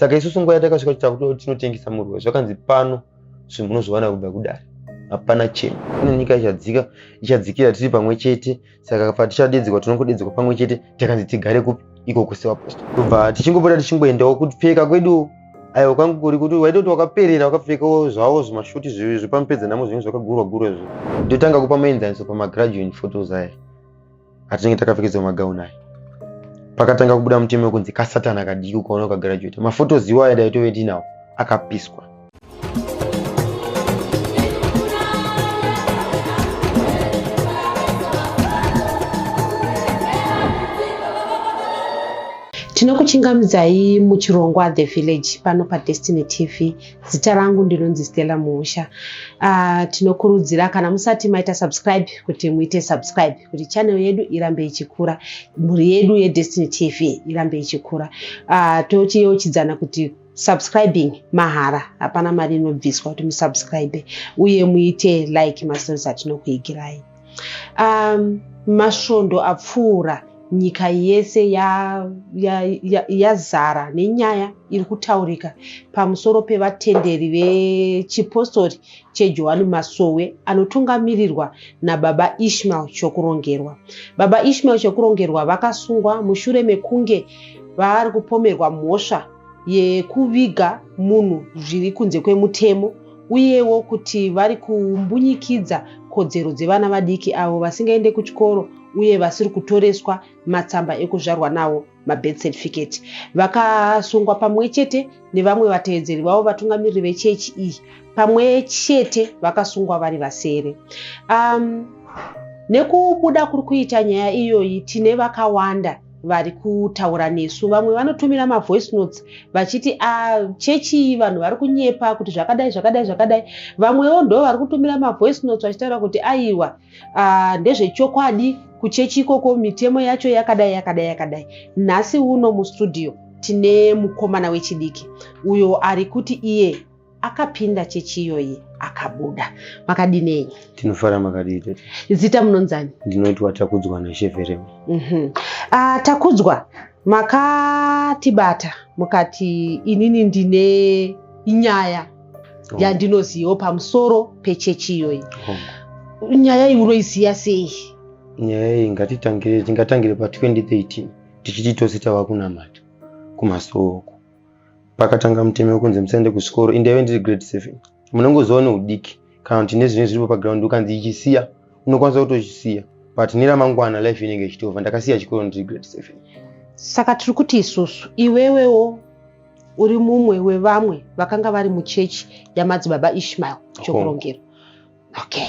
saka isusu nguva yatakasvika titakuti tinotengesa murwe zvakanzi pano zvinhu munozviwana kubva kudare hapana chimwe kune nyika ichadzika ichadzikira tiri pamwe chete saka patichadedzekwa tinongodedzekwa pamwe chete takanzi tigare kupi iko kusevaposto kubva tichingopota tichingoendawo kupfeka kwedu aiwa kwangu kuri kuti waita kuti wakaperera wakapfekawo zvavo zvimashuti zvivi zvepamupedza namo zvinenge zvakagurwa gurwa izvo ndotanga kupa muenzaniso pamagraduan photos aya atinenge takapfekedzwa magauni aya pakatanga kubuda mutemo wekunzi kasatana kadiki ukaona ukagarajueta mafotos iwayo dai tove tinawo akapiswa tinokuchingamidzai muchirongwa the village pano padestiny tv Zita rangu ndinonzi Stella Muusha. Uh, tinokurudzira kana musati maita subscribe kuti muite subscribe kuti channel yedu irambe ichikura, mhuri yedu yeDestiny TV irambe ichikura. Uh, tochiyeuchidzana kuti subscribing mahara hapana mari inobviswa kuti musubscribe uye muite like mastories atinokuigirai. Um, masvondo apfuura nyika yese yazara ya, ya, ya nenyaya iri kutaurika pamusoro pevatenderi vechipostori chejohani masowe anotungamirirwa nababa ishmael chokurongerwa baba ishmael chokurongerwa vakasungwa mushure mekunge vaari kupomerwa mhosva yekuviga munhu zviri kunze kwemutemo uyewo kuti vari kumbunyikidza kodzero dzevana vadiki avo vasingaende kuchikoro uye vasiri kutoreswa matsamba ekuzvarwa nawo mabirth certificate vakasungwa pamwe chete nevamwe vatevedzeri vavo vatungamiriri vechechi iyi pamwe chete vakasungwa vari vasere um, nekubuda kuri kuita nyaya iyoyi tine vakawanda vari kutaura nesu vamwe vanotumira mavoice notes vachiti ah, chechi iyi vanhu vari kunyepa kuti zvakadai zvakadai zvakadai vamwewo ndo vari kutumira mavoice notes vachitaura kuti aiwa ah, ndezvechokwadi kuchechi ikoko mitemo yacho yakadai yakadai yakadai nhasi uno mustudio tine mukomana wechidiki uyo ari kuti iye Akapinda chechi iyoyi akabuda. Makadii nenyu? Tinofara makadii tete? Zita munonzani? Ndinoitwa Takudzwa naShe Verema. Mhm. Ah, Takudzwa makatibata mukati inini ndine nyaya Oh, yandinoziva pamusoro pechechi iyoyi. oh. Nyaya iyi unoiziva sei? Nyaya iyi ngatitangire tingatangire pa 2013 tichiti tose tava kunamata kumasooko. pakatanga mutemo wekunzi musaende kuchikoro in the event iri grade seven munongoziva neudiki kana kuti nezvinenge zviripo paground ukanzi ichisiya unokwanisa kutochisiya but neramangwana life inenge ichitova ndakasiya chikoro ndiri grade seven saka tiri kuti isusu iwewewo uri mumwe wevamwe vakanga vari muchechi yamadzibaba ishmael chokurongero okay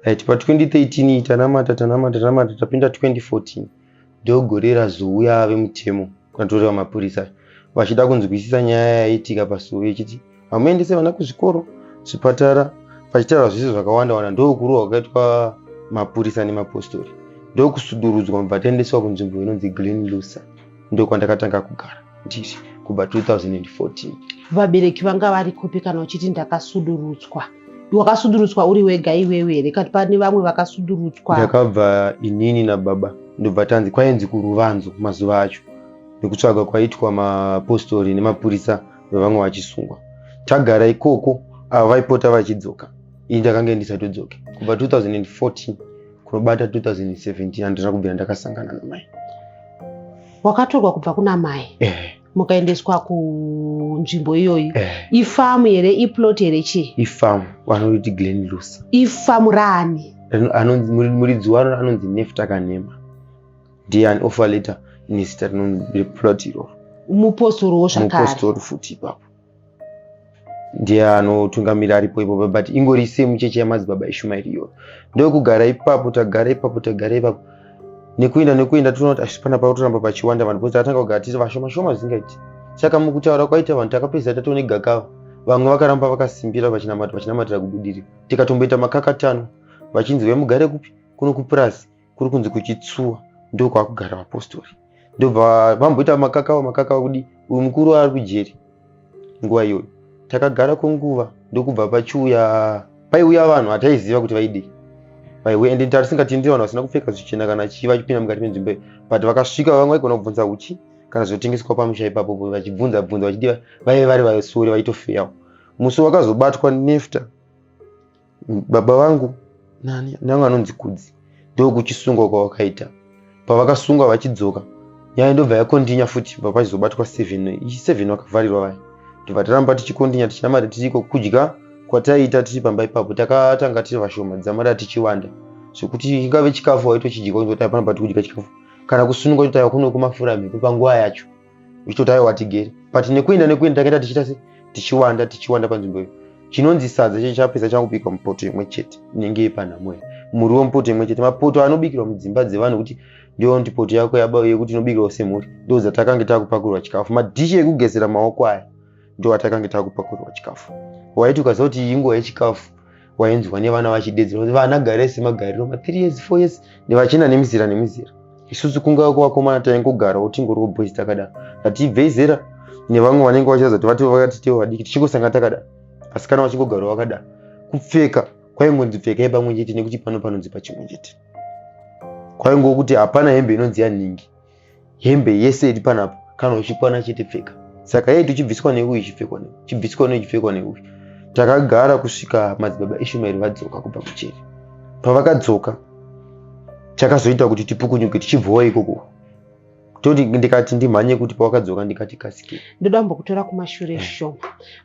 right pa 2013 tanamata tanamata tanamata tapinda 2014 dog gore razouya ave mutemo kunatoreva mapurisa vachida kunzwisisa nyaya yaitika pasuve ichiti hamuendese vana kuzvikoro zvipatara pachitaura zvese zvakawanda wanda ndokurohwa kwakaitwa mapurisa nemapostori ndokusudurudzwa mubva taendeswa kunzvimbo inonzi green lusa ndokwandakatanga kugara ndiri kubva 2014 vabereki vanga vari kupi kana uchiti ndakasudurutswa wakasudurutswa uri wega iwewe here kati pane vamwe vakasudurutswa ndakabva inini nababa ndobva tanzi kwainzi kuruvanzo mazuva acho nekutsvaga kwaitwa mapostori nemapurisa vevamwe vachisungwa tagara ikoko ava vaipota vachidzoka ini ndakange ndisatodzoke kubva 2014 kunobata 2017 handina kubvira ndakasangana namai wakatorwa kubva kuna mai eh. mukaendeswa kunzvimbo iyoyi eh. ifamu here iplot here chii ifamu vanoti glen lusa ifamu raani muridzi waro anonzi nefta kanema ndiye an offer letter inezita replot iroro mupostori wo zvakare mupostori futi ipapo ndiye anotungamira aripo ipopa but ingori same chechi yamadzibaba eshumairi iyoyo ndokugara ipapo tagara ipapo tagara ipapo nekuenda nekuenda toona kuti asi pana pakutoramba pachiwanda vanhu bcause takatanga kugara tiri vashoma shoma zvisingaiti saka mukutaura kwaita vanhu takapedzisa tatone gakava vamwe vakaramba vakasimbira vachinamata vachinamatira kubudirira tikatomboita makakatanwa vachinzi vemugare kupi kuno kupurasi kuri kunzi kuchitsuwa ndo kwakugara vapostori ndobva vamboita makakawa makakawa kudi uyu mukuru ari kujeri nguva iyoyo takagara kwenguva ndokubva pachiuya paiuya vanhu hataiziva kuti vaidii vaiuya ende tarisingatenderi vanhu vasina kupfeka zvichena kana chii vachipinda mukati menzvimbo iyo but vakasvika vamwe vaigona kubvunza uchi kana zvinotengeswa pamusha ipapo vachibvunza bvunza vachidi vaive vari vasori vaitofeyawo musi wakazobatwa nefta baba vangu nani nyange anonzi kudzi ndokuchisungwa kwavakaita pavakasungwa vachidzoka nyaya ndobva yakondinya futi bva pachizobatwa seven ichi seven vakavharirwa vaya ndobva taramba tichikondinya tichinamata tiriko kudya kwataiita tiri pamba ipapo takatanga tiri vashoma dzamara tichiwanda zvekuti ingave chikafu waitochidya kuti hapana pati kudya chikafu kana kusununga kuti taiva kuno kumafura mhepo panguva yacho uchitotayo watigere but nekuenda nekuenda takaita tichiita se tichiwanda tichiwanda panzvimbo iyo chinonzi sadza chechi chapedza chakubikwa mupoto imwe chete inenge yepanhamo iyo muriwo mupoto imwe chete mapoto anobikirwa mudzimba dzevanhu kuti ndiyo kuti poto yako yaba yekuti inobikirwa semhuri ndozatakange takupakurwa chikafu madhishi ekugezera maoko aya ndowatakange takupakurirwa chikafu waiti ukaziva kuti iyi nguva yechikafu wainzwa nevana vachidedzera kuti vana gare semagariro ma three years four years nevachina nemizira nemizira isusu kunga kuvakomana taingogara utingoriwo boys takadaro hatibvei zera nevamwe vanenge vachiratidza kuti vati vakati tevo vadiki tichingosanga takadaro asi kana vachingogara vakadaro kupfeka kwaingonzi pfekai pamwe chete nekuti pano panonzi pachimwe chete kwaingokuti hapana hembe inonzi yanhingi hembe yese iri panapo kana uchikwana chete pfeka saka yaitu chibviswa neuyu chipfekwa neuyu chibviswa neuyu chipfekwa neuyu takagara kusvika madzibaba ishumaeri vadzoka kubva kucheri pavakadzoka chakazoita kuti tipukunyuke tichibvowa ikoko toti ndikati ndimhanye kuti pawakadzoka ndikati kasike ndoda kumbokutora kumashure mm. shoma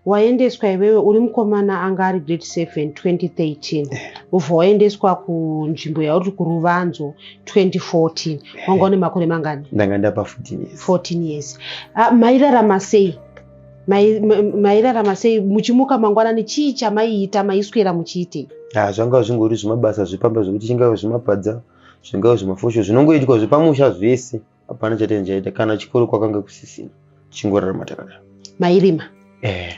waendeswa iwewe uri mukomana anga ari grade 7 2013 ubva waendeswa kunzvimbo yauri kuruvanzo 2014 wanga une makore mangani ndanga ndapa 14 years 14 years Ah, mairarama sei Mai- ma- mairarama sei muchimuka mangwanani chii chamaiita maiswera muchiitei Ah, zvanga zvingori zvimabasa zvepamba zvekuti chingave zvemapadza zvingave zvemafosho zvinongoitwa zvepamusha zvese hapana chatenge chaita kana chikoro kwakange kusisina tichingorarama takadaro mairima eh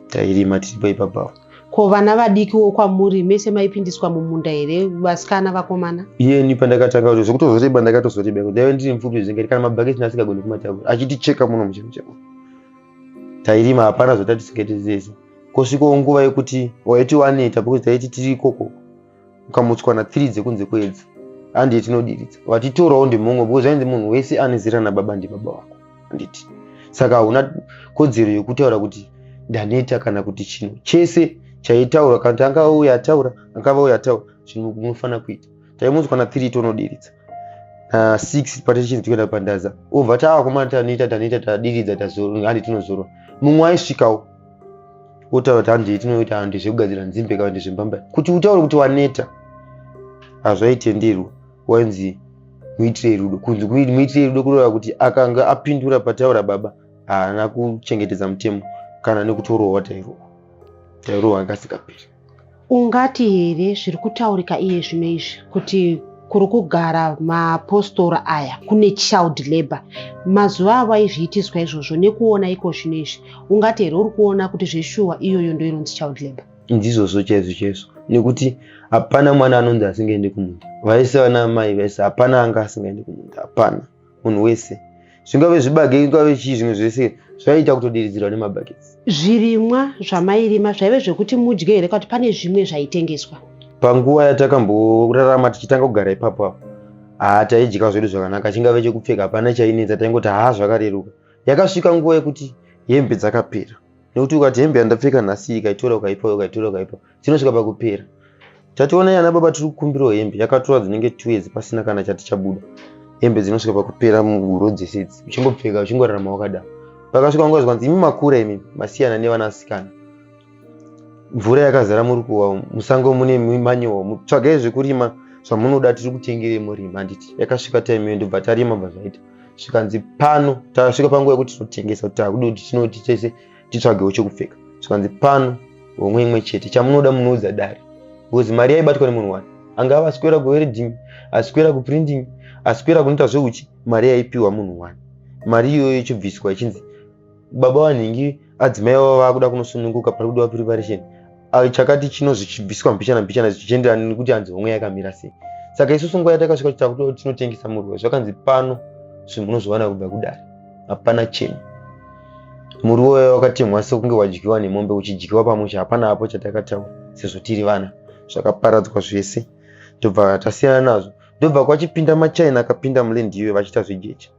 tairima tiripo ipapawo ko vana vadiki wo kwamuri mese maipindiswa mumunda here vasikana vakomana iyeni pandakatanga kuti zvekutozoreba ndakatozoreba kuti ndaive ndiri mupfupi zvenge kana mabhaketi naasingagoni kumatavura achiticheka muno muchemu chemu tairima hapana zvatatisingaite zese kosvikawo nguva yekuti waiti waneta because taiti tiri ikoko ukamutswa na three dzekunze kwedzi handiti tinodiridza vatitorawo ndimhomwe because zvainzi munhu wese ane zera nababa ndibaba wako handiti saka hauna kodzero yekutaura kuti ndaneta kana kuti chino chese chaitaura kana kuti angava uyo ataura angava uyo ataura zvinhu munofanira kuita taimutswa na three tonodiridza na six patichinzi tikuenda pandaza obva taakomana tanoita tanoita tadiridza tazoro handiti tinozorwa mumwe aisvikawo wotaura kuti handii tinoita handi zvekugadzira nzimbe kana kuti zvembamba kuti utaure kuti waneta hazvaitenderwa wainzi muitire rudo kunzi muitire rudo kureva kuti akanga apindura pataura baba haana kuchengetedza mutemo kana nekutorohwa tairohwa tairohwa akasika piri Ungati here zviri kutaurika iye zvino izvi kuti kuri kugara maapostora aya kune child labour mazuva avo aizviitiswa izvozvo nekuona iko zvino izvi ungati here uri kuona kuti zveshuwa iyoyo ndoinonzi child labour ndizvozvo chaizvo chaizvo nekuti hapana mwana anonzi asingaende kumunda vaise vana amai vaise hapana anga asingaende kumunda hapana munhu wese zvingave zvibage ingave chii zvimwe zvese zvaiita kutodiridzirwa nemabakets zvirimwa zvamairima zvaive zvekuti mudye here kuti pane zvimwe zvaitengeswa panguva yatakamborarama tichitanga kugara ipapo apo haa taidya zvedu zvakanaka chingave chekupfeka hapana chainetsa taingoti haa zvakareruka yakasvika nguva yekuti hembe dzakapera nekuti ukati hembe yandapfeka nhasi ikaitora ukaipa ukaitora ukaipa dzinosvika pakupera tationa yana baba tiri kukumbirawo hembe yakatora dzinenge two years pasina kana chati chabuda hembe dzinosvika pakupera muhuro dzese idzi uchingopfeka uchingorarama wakadaro pakasvika nguva zvikanzi imi makura imi masiyana nevanasikana mvura yakazara muri kuwa musango mune manyowa tsvagai zvekurima zvamunoda tiri kutengerei murima handiti yakasvika time iyo ndobva tarima bva zvaita zvikanzi pano tasvika panguva yekuti tinotengesa kuti takuda kuti tinoti tese titsvagewo chekupfeka zvikanzi pano homwe imwe chete chamunoda munoudza dare because mari yaibatwa nemunhu wani anga ava asikwera kuwereding asikwera kuprinting asikwera kunoita zveuchi mari yaipiwa munhu wani mari iyoyo ichibviswa ichinzi baba vanhingi adzimai vavo vakuda kunosununguka pari kudiwa preparation ah, chakati chinozi chibviswa mbichana mbichana zvichienderana nekuti hanzi homwe yakamira sei saka isusu nguva yatakasvika kuti takuti tinotengesa muruwa zvakanzi pano zvinhu munozviwana kubva kudare hapana chinhu muriwo waye wakatemwa sekunge wadyiwa nemombe uchidyiwa pamusha hapana apo chatakataura sezvo tiri vana zvakaparadzwa zvese tobva tasiyana nazvo ndobva kwachipinda machina akapinda mulendi iyoyo vachiita zvejecha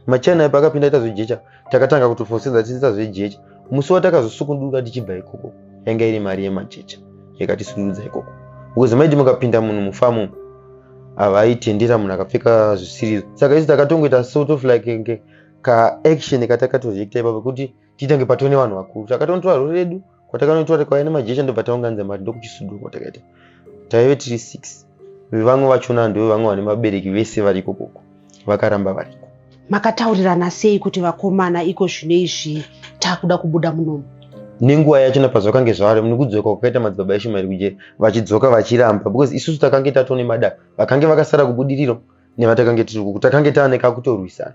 machina ipa akapinda ita zvejecha takatanga kutofosedza tichiita zvejecha musi watakazosukunduka tichibva ikoko yanga iri mari yemajecha yakatisundudza ikoko because maiti mukapinda munhu mufamu havaitendera munhu akapfeka zvisirizo saka isi takatongoita sort of like kaaction katakatozviita ipa pekuti titange patone vanhu vakuru takatonotora rori redu kwatakanoitwa tikauya nemajecha ndobva taunganidza mari ndokuchisuduko takaita taive tiri six vevamwe vachona ndo vevamwe vane vabereki vese variko koko vakaramba variko makataurirana sei kuti vakomana iko zvino izvi takuda kubuda munomu nenguva yachona pazvakange zvavari nekudzoka kwakaita madzibaba eshumairi kujeri vachidzoka vachiramba because isusu takange tatone madaka vakange vakasara kubudiriro nevatakange tiri kuku takange taaneka kutorwisana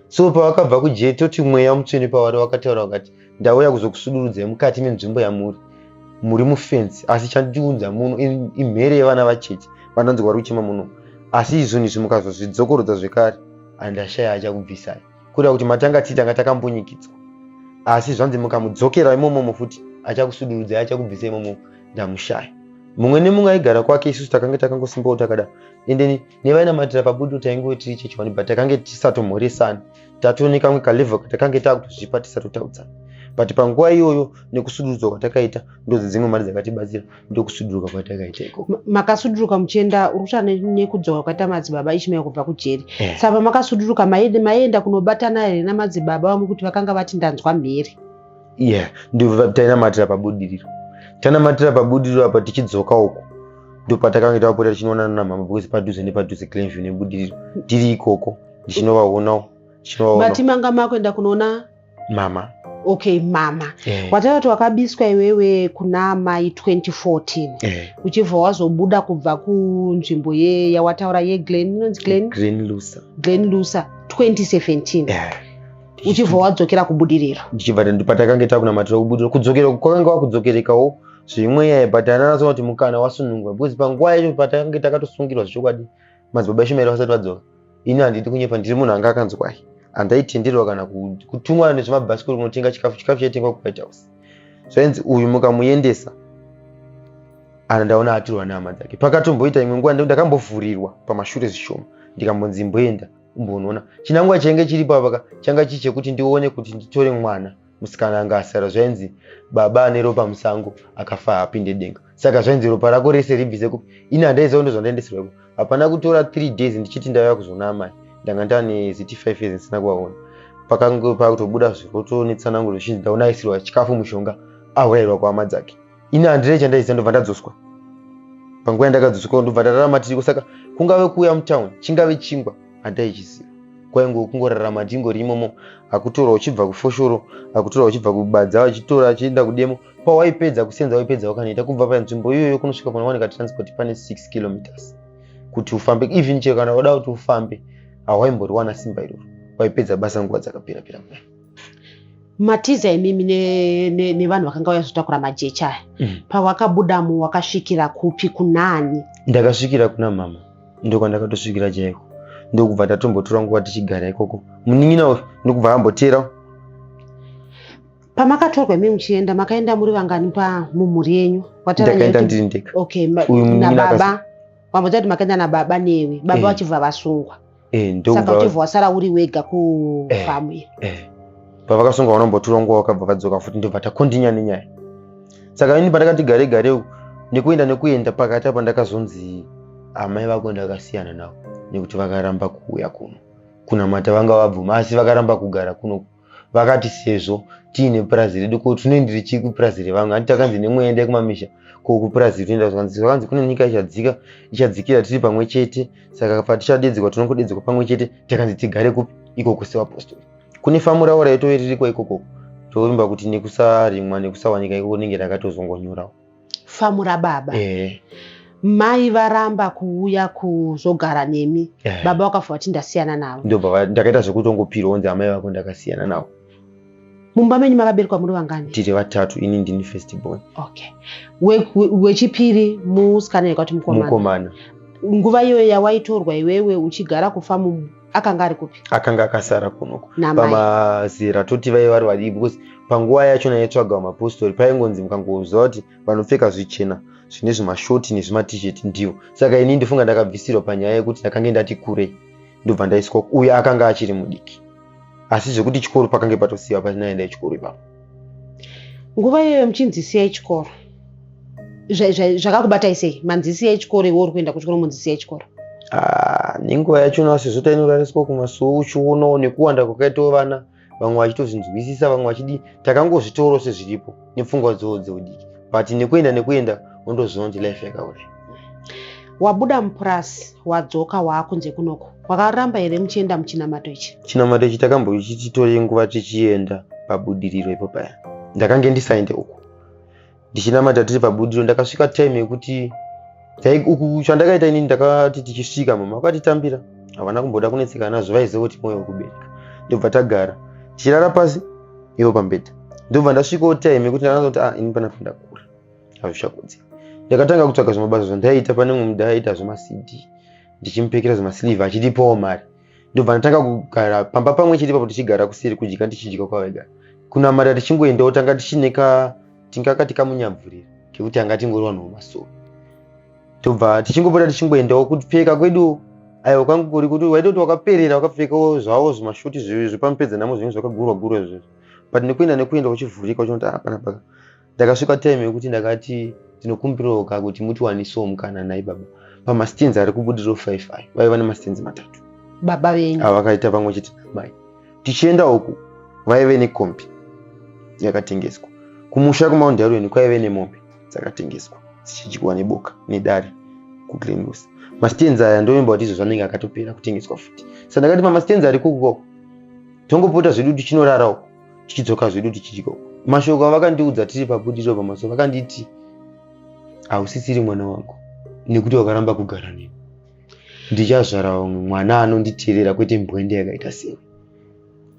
so pavakabva kujeri toti mweya mutsvene pavari wakataura vakati ndauya kuzokusudurudzai mukati menzvimbo yamuri muri mufensi asi chandiunza muno imhere yevana vacheche vanonzi vari kuchema muno asi izvoni izvi mukazozvidzokorodza zvekare andashaya achakubvisai kureva kuti matanga tii tanga takambunyikidzwa asi zvanzi mukamudzokera imomomo futi achakusudurudzai achakubvisa imomo ndamushaya mumwe nemumwe aigara kwake isusu takanga takangosimbawo takada endeni nevainamatira pagudo taingoe tiri chechi one but takange tisatomhoresani tatone kamwe kalevel katakange takutozvipa tisatotaudzana but panguva iyoyo nekusudurudzwa kwatakaita ndozi dzimwe mari dzakatibatsira ndokusuduruka kwatakaita ikoko Ma- makasuduruka muchienda uri kutaura ne- nekudzoka kwakaita madzibaba ishmael kubva kujeri Eh. saka makasuduruka maiende- maienda kunobatana here namadzibaba vamwe kuti vakanga vati ndanzwa mhere yeah ndibva tainamatira pabudiriro tanamatira pabudiriro apa tichidzoka uko ndopatakange tapota tichinoonana namama because padhuze nepadhuze clenview nebudiriro tiri ikoko ndichinovaonawo ndichinovaonati manga makuenda kunoona mama okay mama yeah. Eh. watakati wakabiswa iwewe kuna amai 2014 yeah. Eh. uchibva wazobuda kubva kunzvimbo ye yawataura yeglen inonzi glen glen lusa glen lusa 2017 yeah. uchibva wadzokera kubudiriro ndichibva ndi- patakange takunamatira kubudiriro kudzokera kwakanga wakudzokerekawo zvemweya but ananasa kuti mukana wasunungwa because panguva yacho patakange takatosungirwa zvechokwadi madzibaba eshumairi vasati vadzoka ini handidi kunyepa ndiri munhu anga akanzwai handaitenderwa kana ku- kutumwa nezvemabhasikoro kunotenga chikafu chikafu chaitengwa kuwhite house zvainzi uyu mukamuyendesa ana ndaona atirwa nehama dzake pakatomboita imwe nguva ndakambofurirwa pamashure zvishoma ndikambonzi imboenda umbonona chinangwa chainge chiripo apaka changa chii chekuti ndione kuti nditore mwana musikana anga asara zvainzi baba ane ropa musango akafa apinde denga saka zvainzi ropa rako rese ribvise kupi ini handaiziva ndo zvandaendesera iko hapana kutora three days ndichiti ndaiva kuzoona amai ndanga ndane ziti five years ndisina kuvaona pakange pakutobuda zviroto netsananguro zvichinzi ndaona aisirwa chikafu mushonga aurairwa kuhama dzake ini handire chandaiziva ndobva ndadzoswa panguva yandakadzoswa ndobva ndararama tiriko saka kungave kuuya mutown chingave chingwa handaichiziva kwainge kungorarama ndingori imomo akutora uchibva kufoshoro akutora uchibva kubadza vachitora achienda kudemo pawaipedza kusenza waipedza wakanoita kubva panzvimbo iyoyo kunosvika panowanika transport pane 6 kilometers kuti ufambe even chero kana wada kuti ufambe hawaimboriwana simba iroro waipedza basa nguva dzakapera pera mwana matiza imimi nevanhu ne, ne vakanga vauya kuzotakura majecha aya mm. pawakabudamo wakasvikira kupi kunani ndakasvikira kuna mama ndokwandakatosvikira chaiko ndokubva tatombotora nguva tichigara ikoko munin'ina uyu ndokubva amboteera pamakatorwa imi muchienda makaenda muri vangani pa mumhuri yenyu watakaenda ndiri ndega okay nababa wambotaura kuti makaenda nababa newe baba eh. vachibva vasungwa Eh, ndokuva- saka uchibva wasara uri wega kufamu iyi Eh, pavakasunga vanombotura nguva vakabva vadzoka futi ndobva takondinya nenyaya saka ini pandakati gare gare uku, nekuenda nekuenda pakati apa ndakazonzi amai vako ndakasiyana navo nekuti vakaramba kuuya kuno kunamata vanga vabvuma asi vakaramba kugara kuno vakati sezvo tiine purazi redu ko tinoendereyi chii kupurazi revamwe hanti takanzi nemweya endai kumamisha ko kupurazi rinoenda zvakanzi zvakanzi kune nyika ichadzika ichadzikira tiri pamwe chete saka patichadedzekwa tinongodedzekwa pamwe chete takanzi tigare kupi ikoko sevapostori kune famu ravo raitove ririkwa ikokoko tovimba kuti nekusarimwa nekusawanika ikoko rinenge rakatozongonyorawo famura baba eh. mai varamba kuuya kuzogara nemi eh. baba wakafa vati ndasiyana navo ndo baba ndakaita zvekuti ongopirwa onzi amai vako ndakasiyana navo mumba menyu makaberekwa muri vangani tiri vatatu ini ndini first born okay wechipiri we, musikana yekati mukomana nguva iyoyo yawaitorwa iwewe uchigara kufa mumu akanga ari kupi akanga akasara kunoku pamazera toti vaive vari vadii because panguva yacho naitsvaga vamapostori paingonzi mukangonzwa kuti vanopfeka zvichena zvine zvimashoti nezvimatishet ndivo saka ini ndofunga ndakabvisirwa panyaya yekuti ndakange ndati kure ndobva ndaiswa uyo akanga achiri mudiki asi zvekuti chikoro pakange patosiiwa pachinaenda chikoro ipapo nguva iyoyo muchinzisiya chikoro zvakakubatai sei manzisiya echikoro iwe uri kuenda kuchikoro munzisiya echikoro ah, nenguva yacho unasezota inorariswa kumasuwo uchionawo nekuwanda kwakaitawo vana vamwe vachitozvinzwisisa vamwe vachidi takangozvitoro sezviripo nepfungwa dzoo dzeudiki but nekuenda nekuenda undoziva kuti life yakausha wabuda mupurasi wadzoka waakunze kunoko wakaramba here muchienda muchinamato ichi chinamato ichi takambochititore nguva tichienda pabudiriro ipo paya ndakange ndisaende uku ndichinamata tiri pabudiriro ndakasvika time yekuti uku chandakaita inini ndakati tichisvika mama vakatitambira havana kumboda kunetsekana nazvo vaiziva kuti mwoyo wekubereka ndobva tagara tichirara pasi ivo pambedha ndobva ndasvikawo time yekuti ndakazoti a ah, ini panapa ndakura hazvichakudzi ndakatanga kutsvaga zvimabasa zvandaiita pane mumwe mudai aiita zvemacd ndichimupekera zvemaslive achitipawo mari ndobva ndatanga kugara pamba pamwe chete papo tichigara kuseri kudya tichidya kwavega kunamata tichingoendawo tanga tichineka tingakati kamunyamvurira kekuti anga tingori vanhu vemasowe tobva tichingopota tichingoendawo kupfeka kwedu aiwa kwangu kuri kuti waitoti wakaperera wakapfekawo zvavo zvimashoti zvepamupedza namo zvinenge zvakagurwa gurwa izvozvo but nekuenda nekuenda uchivhurika uchinoti apana ah, paka ndakasvika time yekuti ndakati ndinokumbirawo ka kuti mutiwanisewo mukana nhai baba pamastenzi ari kubudiro 5 ayo vaiva nemastenzi matatu baba venyu avakaita pamwe chete namai tichienda uku vaive nekombi yakatengeswa kumusha kumaundarweni kwaive nemombe dzakatengeswa dzichidyiwa neboka nedare kuglenus mastenzi aya ndoimba kuti izvozvo anenge akatopera kutengeswa futi sa ndakati pamastenzi ari kukuko tongopota zvedu tichinorara uku tichidzoka zvedu tichidya uko mashoko avakandiudza tiri pabudiro pamaso vakanditi hausisiri mwana wangu nekuti wakaramba kugara neni ndichazvara umwe mwana anonditerera kwete mbwende yakaita sei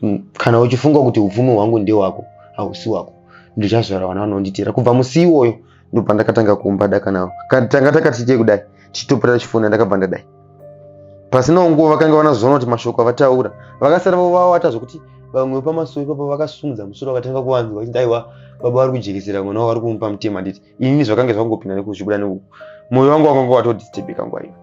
Mm, kana uchifunga kuti upfumi hwangu ndewako hausi wako ndichazvara vana vanonditera kubva musi iwoyo ndopandakatanga kuumba daka navo tanga takati chei kudai tichitopera chifona ndakabva ndadai pasinawo nguva vakanga vanazoona kuti mashoko avataura vakasara vovawata zvekuti vamwe vepamasowe ipapo vakasimudza musoro vakatanga kuvanzwa vachiti aiwa baba vari kujekesera mwana wavo vari kumupa mutema handiti inini zvakange zvangopinda nekuzvibuda neuku mwoyo wangu wakanga watodistebeka nguva iyo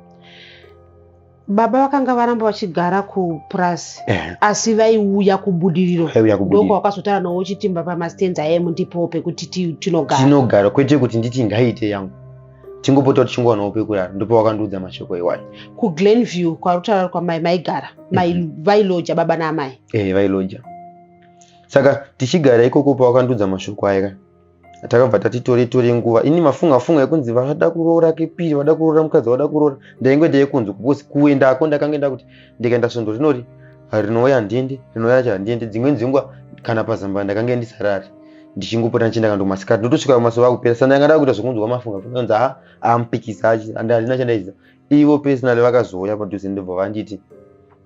baba vakanga varamba vachigara kupurazi Eh, asi vaiuya kubudiriro vaiuya ndoko kubudiriro wakazotaura nawo uchitimba pamastands aye mundipowo pekuti ti- tinogara tinogara kwete kuti nditi ngaite yangu tingopota tichingowanawo pekurara ndipo wakandiudza mashoko iwayo kuglenview kwarutaura kwamai maigara mai vailoja baba naamai eh vailoja saka tichigara ikoko pawakandiudza mashoko aya ka takabva tati tore tore nguva ini mafunga funga ekunzi vada kuroora kepiri vada kuroora mukadzi vada kuroora ndainge ndeikunzi kukosi kuendako ndakange nda kuti ndikaenda svondo rinori rinouya handiendi rinouya racho handiendi dzimweni dzenguva kana pazambaa ndakange ndisarari ndichingopota ndichienda kando masikati ndotosvika masoa kupera sa ndanga ndakuita zvekunzwa mafunga funga kunzi haa ampikisa achi and handina chandaiziva ivo personally vakazouya padhuze ndobva vanditi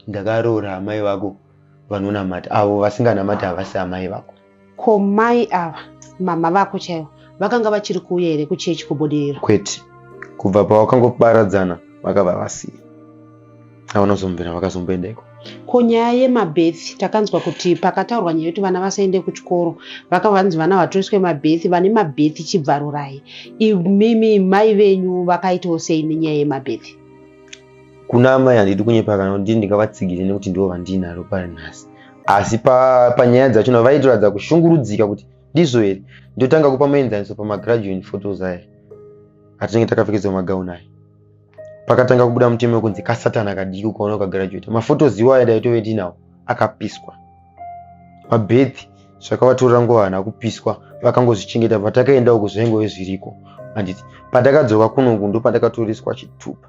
ndakaroora amai vako vanonamata avo vasinganamati havasi amai vako Ko mai ava mama vako chaivo vakanga vachiri kuuya here kuchechi kubudiriro? Kwete, kubva pavakangoparadzana vakabva vasiya. Havana kuzombobvira vakazomboenda iko. Ko nyaya yemabethi takanzwa kuti pakataurwa nyaya yekuti vana vasaende kuchikoro vakabva vanzi vana vatoiswe mabethi vane mabethi chibvarurai. Imimi mai venyu vakaitawo sei nenyaya yemabethi? kuna amai handidi kunyepa kana kuti ndingavatsigire nekuti ndivo vandiinaro pari nhasi asi panyaya pa dzachona vaitoratidza kushungurudzika kuti ndizvo here ndotanga kupa muenzaniso pamagraduan photos aya atinenge takapfekedzwa magaun aya pakatanga kubuda mutemo wekunzi kasatana kadiki ukaona ukagraduata mafotos iwo aya daitove tinawo akapiswa mabethi zvakavatorera nguva hana kupiswa vakangozvichengeta patakaenda uku zvaingove zviriko handiti patakadzoka kunoku ndopandakatoreswa chitupa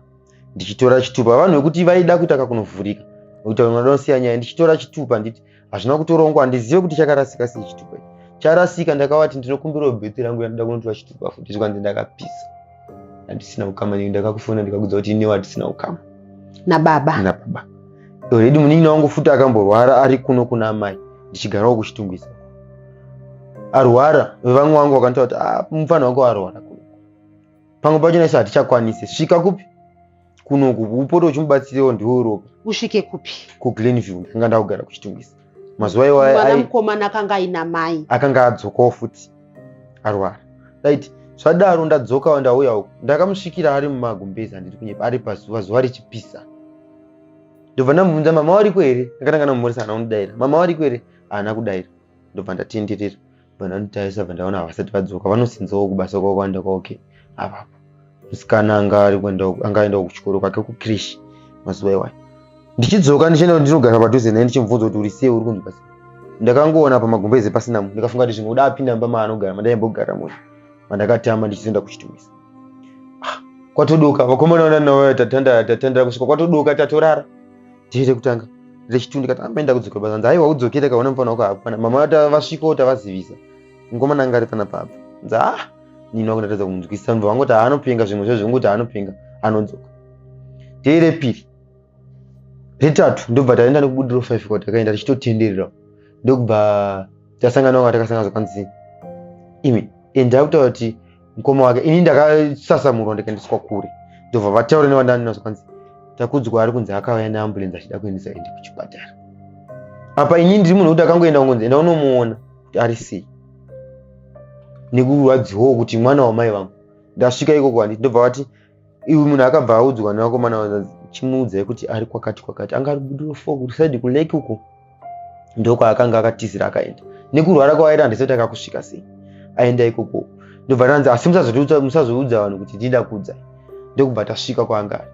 ndichitora chitupa vanhu vekuti vaida kuita kakunovhurika nekuti vamwe vanoda kusiya nyaya ndichitora chitupa nditi hazvina kutorongwa handizive kuti chakarasika sei chitupa ichi charasika ndakavati ndinokumbirawo bheti rangu yandida kunotora chitupa futi zvikanzi ndakapisa handisina ukama nekuti ndakakufona ndikakudza kuti inewo handisina ukama nababa nababa already munin'ina wangu futi akamborwara ari kuno kuna amai ndichigarawo kuchitungwisa arwara vevamwe vangu vakanditaa kuti ah, mufana wako arwara pamwe pacho naisu hatichakwanise svika kupi kunoku upote uchimubatsiriwo ndiwo ropa usvike kupi kuglenview ndakanga ndakugara kuchitungisa mazuva iwaya mwana ai- mukomana akanga aina mai akanga adzokawo futi arwara right zvadaro ndadzokawo ndauya uku ndakamusvikira ari mumagumbezi andiri kunyepa ari pazuva zuva richipisa ndobva ndamubvunza mama wariko here ndakatanga ndamumhoresa hana kundidaira mama wariko here haana kudaira ndobva ndatenderera Bwana Nutaisa vandaona havasati vadzoka vanosinzawo kubasa kwavo kwaenda kwavo ke avapo. Musikana anga ari kuenda anga aenda kuchikoro kwake kukrish mazuva iwayo. Ndichidzoka ndichienda ndinogara padhuze naye ndichimubvunza kuti uri sei uri kunzwa sei. Ndakangoona pamagumbeze pasina munhu ndikafunga kuti zvimwe uda apinda mumba maanogara mandaimbogara munhu mandakatama ndichizoenda kuchitumisa. Ah, kwatodoka vakomana vanana tatandara tatandara kusvika kwatodoka tatorara. dhiri rekutanga rechitu ndikati amboenda ah, kudzoka basa nzi aiwa udzokere kaona mufana wako hapana mama vasvikawo tavazivisa mukomana anga ari pana papa nzi ah nini wakundatadza kumunzwisisa mva vangoti haanopenga zvimwe zvo zvinguti haanopenga anodzoka dhiri repiri retatu ndobva taenda nekubudiro five kwa takaenda tichitotenderera ndokubva tasangana wanga takasanga zvakanzi imi endai kutaura kuti mukoma wake ini ndakasasamurwa ndikaendeswa kure ndobva vataura nevandandinaso kwanzi takudzwa ari kunzi akauya neambulenzi achida kuendesa ende kuchipatara apa ini ndiri munhu kuti akangoenda kungonzi enda unomuona kuti ari sei nekurwadziwawo kuti mwana wamai vangu ndasvika ikoko handiti ndobva vati iwe munhu akabva audzwa nevakomana chimuudzai kuti ari kwakati kwakati anga ari budiro fo kusaidi kuleki uko ndokwaakanga akatizira akaenda nekurwara kwaaita handisati akakusvika sei aenda ikoko ndobva tanzi asi musazoudza vanhu kuti ndida kudza ndokubva tasvika kwaanga ari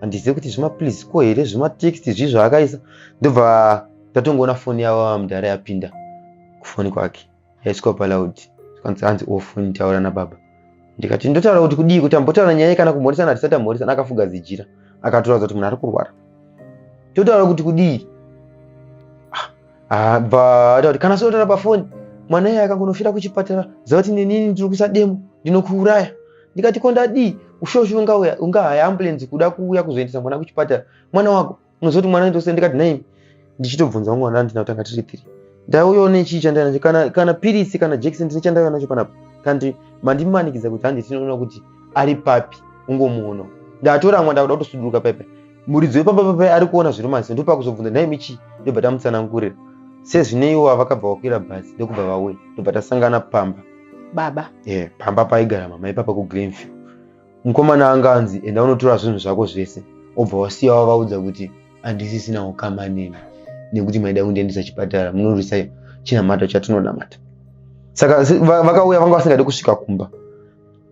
handizive kuti zvimaplease ko here zvimatext zvi zvaakaisa ndobva tatongoona foni yavo vamudhara yapinda kufoni kwake yaisikopa loud zvikanzi hanzi ofuni taura nababa ndikati ndotaura kuti kudii kuti ambotaura nyaya kana kumhoresana hatisati amhoresana akafuga zijira akatoratidza kuti munhu ari kurwara totaura kuti kudii ah, ah, bva ata kuti kana sotaura pafoni mwana iye akangonofira kuchipatara ziva kuti nenini ndiri kuisa demo ndinokuuraya ndikati ko ndadii ushoshi ungahaya ambulenzi kuda kuuya kuzoendesa mwana kuchipatara mwana wako unozoti mwana ndose ndikati nhaimi ndichitobvunza mwana andina kutanga tiri three ndauyawo nechii chandaiva nacho kana, kana piritsi kana jekiseni ndine chandaiva nacho panapa kanti mandimanikidza kuti handi tinoona kuti ari papi ungomuonawo ndatoramwa ndakuda kutosuduruka paipai muridzi wepamba papai ari kuona zviri masi ndopakuzobvunza nhaimi chii ndobva tamutsanangurira sezvineiwo avakabva vakwira bhazi ndokubva vauya ndobva tasangana pamba baba e yeah, pamba paigara mama ipapa kugreenview mukomana anga anzi enda unotora zvinhu zvako zvese obva wasiya wavaudza kuti handisisina ukama neni nekuti maida kundiendesa chipatara munorwisa chinamato chatinonamata saka vakauya vanga vasingadi kusvika kumba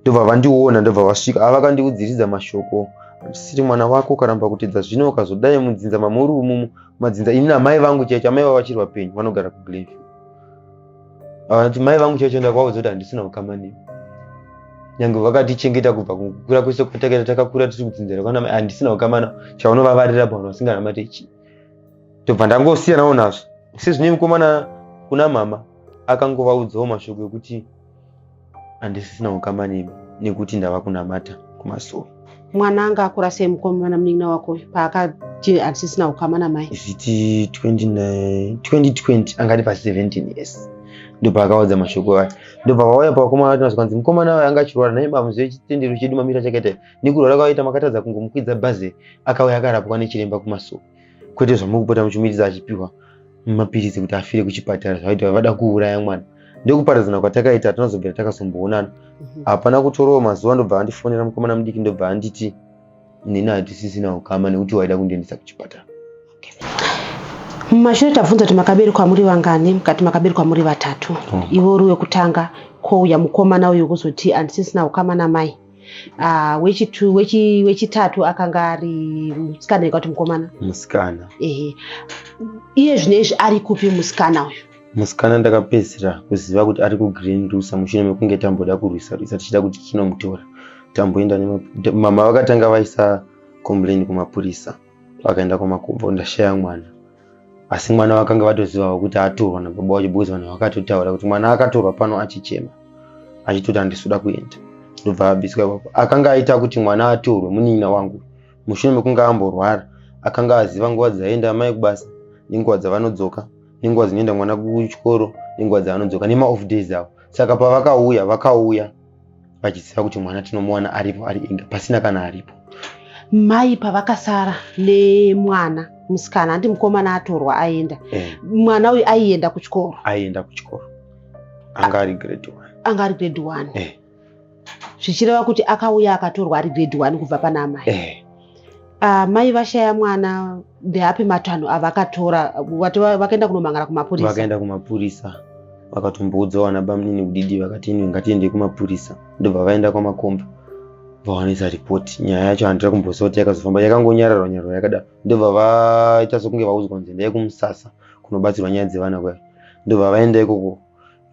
ndobva vandiona ndobva vasvika ava vakandiudziridza mashoko siri mwana wako ukaramba kutedza zvino ukazodai mudzinza mamuri umumu madzinza ini namai vangu chaicho amai vavachiri vapenyu vanogara kuglenview Vakati mai vangu chaicho ndakavaudza kuti handisina ukama nemi. Nyange vakatichengeta kubva kukura kwese kwatakaita takakura tiri kudzinzira kwana mai handisina ukama navo chaunovavarira vanhu vasinganamate chii. Ndobva ndangosiyanawo nazvo. Sezvine mukomana kuna mama akangovaudzawo mashoko ekuti handisisina hukama nemi nekuti ndava kunamata kumasoro mwana anga akura sei mukomana munin'ina wako uyu paakati handisisina hukama namai isiti 29 2020 anga ari pa 17 years ndopaakaudza mashoko aya ndopavauya pavakomana vati mazwanzi mukomana wayo anga achirwara nai bamuzive chitendero chedu mamira chakaita nekurwara kwavaita makatadza kungomukwidza bhazi akauya akarapwa nechiremba kumasuku kwete zvamuri kupota muchimuitisa achipiwa mapiritsi kuti afire kuchipatara zvavaita vada kuuraya mwana ndekuparadzana kwatakaita hatina zobvira takazomboonana mhm. hapana kutorawo mazuva ndobva vandifonera mukomana mudiki ndobva anditi nini hatisisina ukama nekuti waida kundiendesa kuchipatara mumashure tabvunza kuti makaberekwa muri vangani mukati makaberekwa muri vatatu oh. ivo uri wekutanga kouya mukomana uyu kuzoti handisisina ukama namai Ah, wechitu wechi wechitatu akanga ari musikana ikati mukomana. musikana Ehe. Iye zvinezvi ari kupi musikana uyu? musikana ndakapedzisira kuziva kuti ari kugreen rusa mushure mekunge tamboda kurwisa rwisa tichida kuti tinomutora tamboenda nema- mama vakatanga vaisa complain kumapurisa vakaenda kwamakubvu ndashaya mwana asi mwana vakanga vatozivawo kuti atorwa nababa wacho because vanhu vakatotaura kuti mwana akatorwa pano achichema achitoti handisuda kuenda ndobva abiswa ipapo akanga aita kuti mwana atorwe munin'ina wangu mushure mekunge amborwara akanga aziva nguva dzaienda amai kubasa nenguva dzavanodzoka nenguva dzinoenda mwana kuchikoro nenguva dzavanodzoka nemaoff days avo saka pavakauya vakauya vachiziva kuti mwana tinomuwana aripo ari inga pasina kana aripo mai pavakasara nemwana musikana handi mukomana atorwa aenda eh. mwana uyu aienda kuchikoro aienda kuchikoro anga ari grade one anga ari grade one eh. zvichireva kuti akauya akatorwa ari grade one kubva pana amai eh. uh, mai vashaya mwana ndeapi matanho avakatora vati vakaenda kunomangara kumapurisa vakaenda kumapurisa vakatomboudzawo ana bamunini kudidi vakati inwe ngatiendei kumapurisa ndobva vaenda kwamakomba vawanisa ripoti nyaya yacho handira kumboziva kuti yakazofamba yakangonyararwa nyararwa yakadaro ndobva vaita sokunge vaudzwa kunzi endai kumusasa kunobatsirwa nyaya dzevana kwayo ndobva vaenda ikoko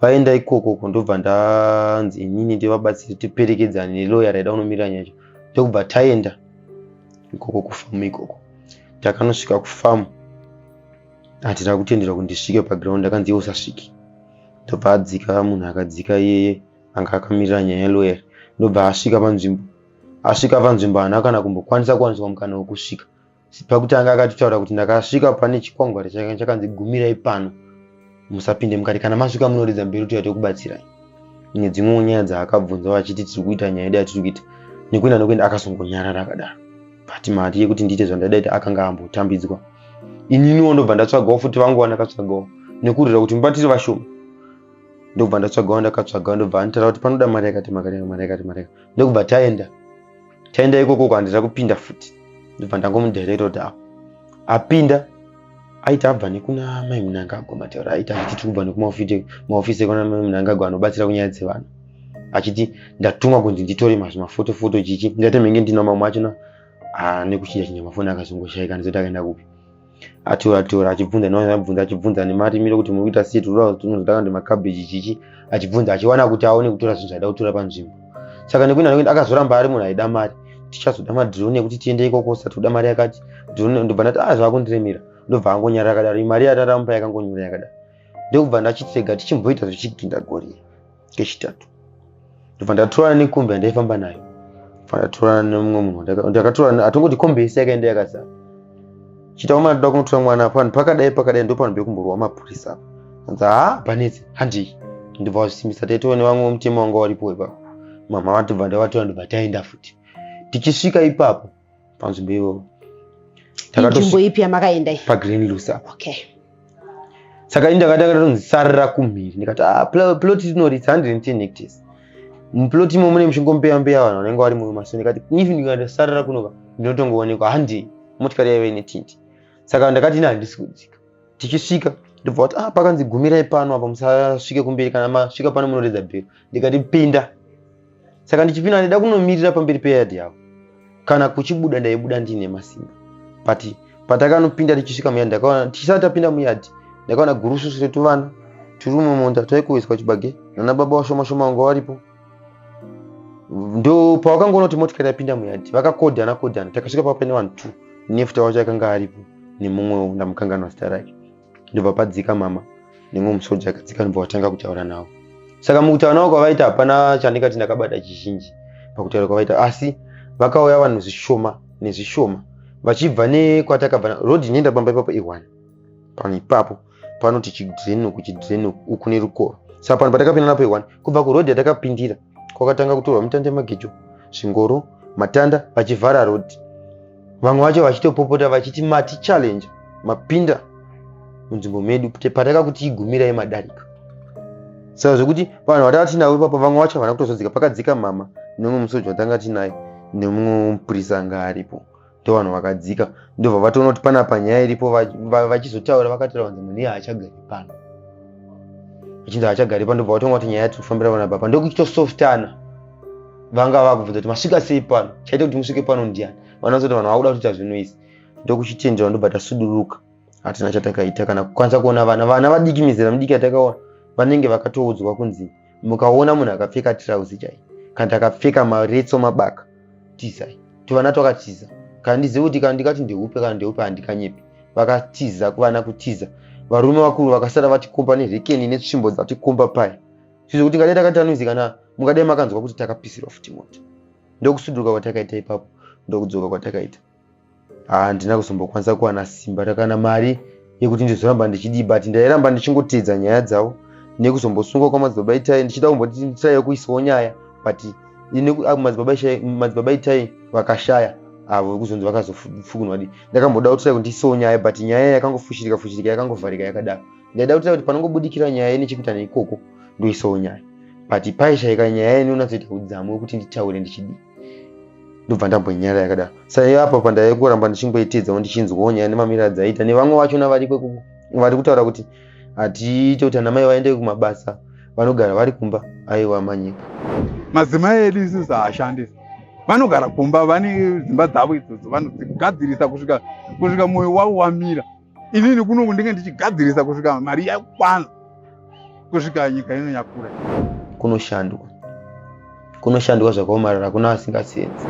vaenda ikokoko ndobva ndanzi inini ndivabatsiri tiperekedzane neloya raida kunomirira nyaya yacho ndokubva taenda ikoko kufamu ikoko takanosvika kufamu handina kutenderwa kuti ndisvike paground akanzi iye usasviki ndobva adzika munhu akadzika iyeye anga akamirira nyaya yeloyer ndobva asvika panzvimbo asvika panzvimbo haana kana kumbokwanisa kuwaniswa mukana wekusvika pakutanga akatotaura kuti ndakasvika pane chikwangwari chakanga chakanzi gumirai pano musapinde mukati kana masvika munoridza mberi kuti yatokubatsirai nedzimwewo nyaya dzaakabvunzawo achiti tiri kuita nyaya yedu yatiri kuita nekuenda nokuenda akazongonyarara akadaro but mati yekuti ndiite zvandaida ita akanga ambotambidzwa ininiwo ndobva ndatsvagawo futi vanguva ndakatsvagawo nekurira kuti mubatiri vashoma ndobva ndatsvagawo ndakatsvagawo ndobva anditaura kuti panoda mari yakati makatenga mari yakati mari yakati ndokubva taenda taenda ikoko uko handina kupinda futi ndobva ndangomudherero da apinda aiti abva nekuna mai munangagwa mataura aiti achiti tiri kubva nekumahofisi ekuna mai munangagwa anobatsira kunyaya dzevanhu achiti ndatumwa kunzi nditore mazvimafotofoto chichi ndati menge ndina mamwe achona anekuchida chinyamafoni akazongoshaika ndizoti akaenda kupi atora tora achibvunza nevanhu vaibvunza achibvunza nemarimiro kuti muri kuita sei tinoda tinozotanga nemakabheji chichi achibvunza achiwana kuti aone kutora zvinhu zvaida kutora panzvimbo saka nekuti anoenda akazoramba ari munhu aida mari tichazoda madrone ekuti tiende ikoko sati kuda mari yakati drone ndobva ndati ah zvakundiremera ndobva angonyara yakadaro imari yataramupa yakangonyura yakadaro ndokubva ndachitega tichimboita zvichigindagorira kechitatu ndobva ndatorana nekombi yandaifamba nayo bva ndatorana nemumwe munhu ndakatorana atongoti kombi yese yakaenda yakazara chita kwamana toda kunotora mwana apo vanhu pakadai pakadai ndopano bekumborwa mapurisa apo anzi ha panetsi handii ndibva wazvisimbisa taitova nevamwe vemutemo wanga waripo ipapo mama vatobva ndavatora ndobva taenda futi tichisvika ipapo panzvimbo iyoyo nzvimbo ipi yamakaenda iyi pagreen luce apa okay saka ini ndakati akatonzi sarira kumhiri ndikati ah, plot rinori its 110 hectares muplot imo mune muchingombeya mbeya vanhu vanenge vari muyo maso ndikati if ndikandosarira kunova ndinotongoonekwa handei motikari yaive netinti saka ndakati ini handisi kudzika tichisvika ndobva kuti ah pakanzi gumirai pano apa musasvike kumberi kana masvika pano munoredza bhero ndikati pinda saka ndichipinda ndaida kunomirira pamberi peyadhi yavo kana kuchibuda ndaibuda ndiine masimba but patakanopinda tichisvika muyadhi ndakaona tichisati tapinda muyadhi ndakaona gurususu retuvana tiri mumunda taikuwiswa chibage nana baba washoma shoma vanga varipo ndo pawakangoona kuti motikari yapinda muyadhi vakakodhana kodhana takasvika papa pane vanhu two nefuta wacho akanga aripo nemumwewo ndamukanganwa zita rake ndobva padzika mama nemwe musoja akadzika ndobva vatanga kutaura navo saka mukutaura navo kwavaita hapana chandikati ndakabata chizhinji pakutaura kwavaita asi vakauya vanhu zvishoma nezvishoma vachibva nekwatakabva rod inoenda pamba ipapo ihwani pano ipapo panoti chidrenoku chidrenoku uku nerukoro saka pano patakapinda napo ihwani kubva kurod yatakapindira kwakatanga kutorwa mitanda yemagejo zvingoro matanda vachivhara rodhi vamwe vacho vachitopopota vachiti mati challenge mapinda munzvimbo medu pataka kuti igumira yemadarika saka zvekuti vanhu vatanga tinavo ipapa vamwe vacho havana kutozodzika pakadzika mama nemumwe musoja vatanga tinaye nemumwe mupurisa anga aripo ndovanhu vakadzika ndobva vatoona kuti pana panyaya iripo vachizotaura vakataura vanzi munhu iye haachagari pano vachinzi haachagari pano ndobva vatonga kuti nyaya yatiri kufambira vana baba ndokuchitosoftana vanga vakubvunza kuti masvika sei pano chaita kuti musvike pano ndiani vanazoti vanhu vakuda kutoita zvinhu izi ndokuchitendewa ndobva tasuduruka hatina chatakaita kana kukwanisa kuona vana vana vadiki mizera midiki yatakaona vanenge vakatoudzwa kunzi mukaona munhu akapfeka tirauzi chai kana takapfeka maretso mabaka tizai tuvana twakatiza kana ndizive kuti kana ndikati ndehupe kana ndehupe handikanyepi vakatiza kuvana kutiza varume vakuru vakasara vatikomba nerekeni netsvimbo dzatikomba paya zvizo kuti ngadai takatanoizi kana mungadai makanzwa kuti takapisirwa futi moto ndokusuduruka kwatakaita ipapo ndokudzoka kwatakaita handina kuzombokwanisa kuwana simba rakana mari yekuti ndizoramba ndichidii but ndairamba ndichingoteedza nyaya dzavo nekuzombosungwa kwamadzibaba itai ndichida kumboti nditai yokuisawo nyaya but ah, madzibaba itai vakashaya avo vekuzonzi vakazofukunwa di ndakamboda kutirai kuti ndiisawo nyaya but nyaya yakangofushirika fushirika yakangovharika yakadaro ndaida kutirai kuti panongobudikira nyaya ine chekuita neikoko ndoisawo nyaya but paishaika nyaya ine unatsoita udzamu wekuti nditaure ndichidii ndobva ndambonyara yakadaro saiyo apo pandaive kuramba ndichingoitedzawo ndichinzwawo nyaya nemamiriro adzaiita nevamwe vachona variko vari kutaura kuti hatiite kuti anamai vaende kumabasa vanogara vari kumba aiwa manyika madzimai edu isusu haashandisi vanogara kumba vane dzimba dzavo idzodzo vanogadzirisa kusvika kusvika mwoyo wavo wamira inini kunoku ndinge ndichigadzirisa kusvika mari yakwana kusvika nyika ino yakura kunoshandwa kunoshandwa zvakaomarara kuna vasingasenzi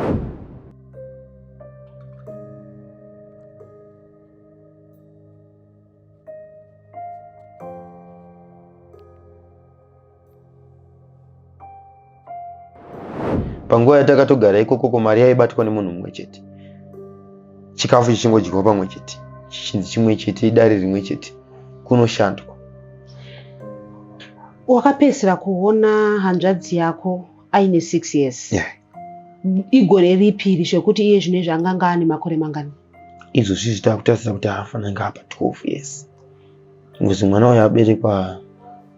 panguva yatakatogara ikoko ko mari yaibatwa nemunhu mumwe chete chikafu chichingodyiwa pamwe chete chichinzi chimwe chete idare rimwe chete kunoshandwa wakapedzisira kuona hanzvadzi yako aine six years yeah. igore ripi iri zvekuti iye zvino izvi anganga ane makore mangani izvo zvizvi takutarisa kuti haafananga apa 12 years ngozi mwana uyo aberekwa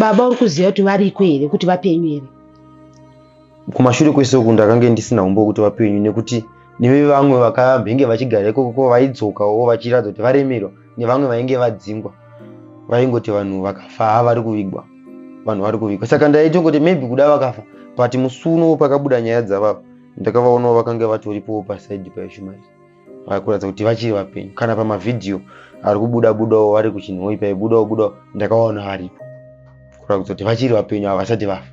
Baba uri kuziva kuti variko here kuti vapenyu here? Kumashure kwese uku ndakange ndisina umbo kuti vapenyu nekuti neve vamwe vakambenge vachigara ikoko ko vaidzokawo vachiratidza kuti varemerwa nevamwe vainge vadzingwa vaingoti vanhu vakafa ha vari kuvigwa vanhu vari kuvigwa saka ndaitongoti maybe kuda vakafa but musuno pakabuda nyaya dzavavo ndakavaonawo vakange vatoripowo pasaidi paishumairi vari kuratidza kuti vachiri vapenyu kana pamavhidhiyo ari kubuda budawo vari kuchinhoi paibudawo budawo ndakaona varipo kuratidza kuti vachiri vapenyu ava vasati vafa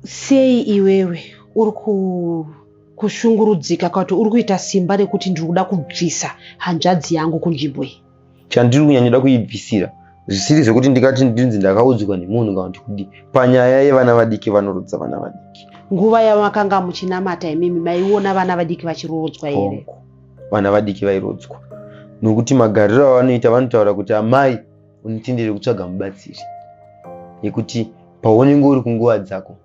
sei iwewe uri kushungurudzika kwakuti uri kuita simba rekuti ndiri kuda kubvisa hanzvadzi yangu kunzvimbo iyi chandiri kunyanyida kuibvisira zvisiri zvekuti ndikati ndinzi ndakaudzwa nemunhu kana kuti kudii panyaya yevana vadiki vanorudza vana vadiki nguva yamakanga muchinamata imimi maiona vana vadiki vachiroodzwa here vana vadiki vairodzwa nokuti magariro avanoita vanotaura kuti amai unitendere kutsvaga mubatsiri nekuti paunenge uri kunguva dzako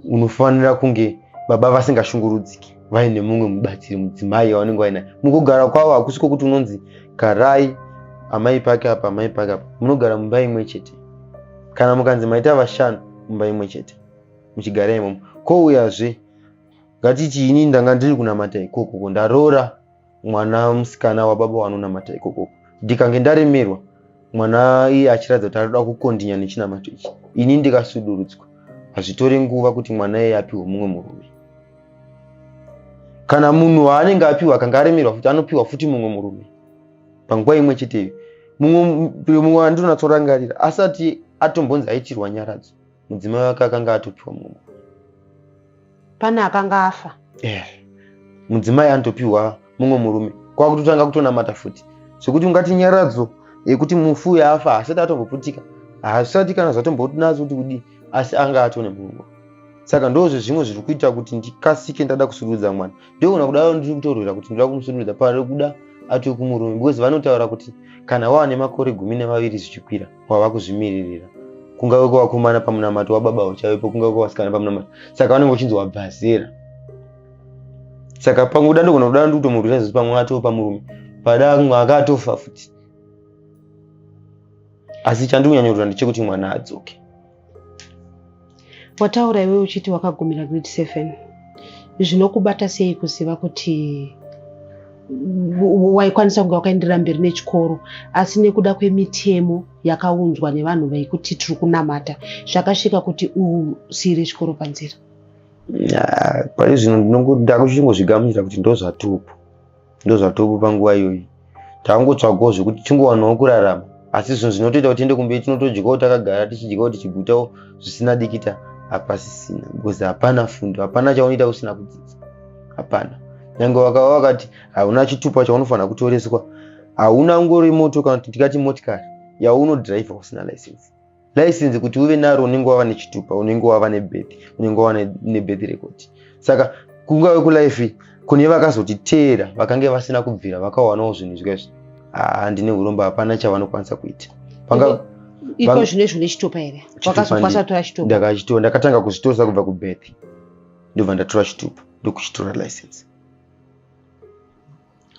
unofanira kunge baba vasingashungurudziki vaine mumwe mubatsiri mudzimai yavanenge vainayo mukugara kwavo hakusi kwokuti unonzi garai amai pake apa amai pake apa munogara mumba imwe chete kana mukanzi maita vashanu mumba imwe chete muchigara imomo kouyazve ngatichiini ndanga ndiri kunamata ikoko ko ndaroora mwana musikana wababa wanonamata ikoko ndikange ndaremerwa mwana iye achiratidza kuti anoda kukondinya nechinamato ichi ini ndikasudurudzwa hazvitore nguva kuti mwana iye apiwe mumwe murume kana munhu waanenge apiwa akanga aremerwa futi anopiwa futi mumwe murume panguva imwe cheteyo mumwe mumwe wandinonatsorangarira asati atombonzi aitirwa nyaradzo mudzimai wake akanga atopiwa mumwe pane akanga afa yeah. mudzimai anotopiwa mumwe murume kwakutotanga kutonamata futi zvekuti ungati nyaradzo yekuti mufu uyo afa hasati atomboputika hazvisati kana zvatombonazo kuti kudii asi anga atone mumwe saka ndozve zvimwe zviri kuita kuti ndikasike ndada kusurudza mwana ndogona kudaro ndiri kutorwira kuti ndoda kumusurudza pari kuda atokumurumi because vanotaura kuti kana waane makore gumi nemaviri zvichikwira wava kuzvimiririra kungave kwevakomana pamunamato wababa uchave ipo kungave kwevasikana pamunamato saka vanenge uchinzi wabva zera saka pamwe kuda ndogona kuda ndikutomurwira zvizi pamwe atopa murume pada mwe akatofa futi asi chandikunyanyodura ndechekuti mwana adzoke wataura iwe uchiti wakagumira grade seven zvinokubata sei kuziva kuti waikwanisa kunge wakaenderera mberi nechikoro asi nekuda kwemitemo yakaunzwa nevanhu vekuti tiri kunamata zvakasvika kuti usiire chikoro panzira pari zvino ndinongoda kuchingozvigamuchira kuti ndozvatupu ndozvatopo panguva iyoyi tangotsvagawo zvekuti tingowanawo kurarama asi zvinhu zvinotoita kuti tiende kumberi tinotodyawo takagara tichidyawo tichigutawo zvisina dikita hapasisina because hapana fundo hapana chaunoita usina kudzidza hapana nyange wakava wakati hauna chitupa chaunofanira kutoreswa hauna ngori moto kana kuti tikati motikari yaunodhiraivha usina license license kuti uve naro unenge wava nechitupa unenge wava nebeth unenge wava nebeth record saka kungave kulife kune vakazotiteera vakange vasina kubvira vakawanawo zvinhu izvezvo handine ah, uromba hapana chavanokwanisa kuita iko zvino izvo nechitopa here wakazokwanisa tora chitopa ndakachitora ndakatanga kuzvitoresa kubva kubeth ndobva ndatora chitupa ndokuchitora license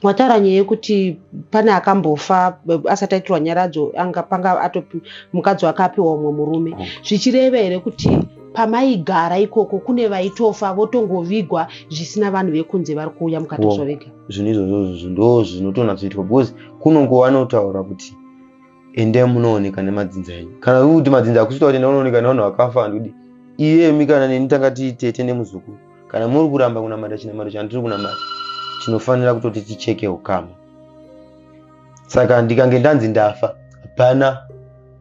Wataura nyaya yekuti pane akambofa asati aitirwa nyaradzo anga panga atopi mukadzi wake apiwa umwe murume mm. zvichireva here kuti pamaigara ikoko kune vaitofa votongovigwa zvisina vanhu vekunze vari kuuya mukatoswa vega zvinhu izvozvo ndo zvinotonatsoitwa because kunongo vanotaura kuti ende munooneka nemadzinza enyu kana kuti madzinza akusita kuti enda unooneka nevanhu vakafa handikudi iyemi kana neni tanga tiitete nemuzukuru kana muri kuramba kunamata chinamato chandiri kunamata chinofanira kutoti ticheke ukama saka ndikange ndanzi ndafa hapana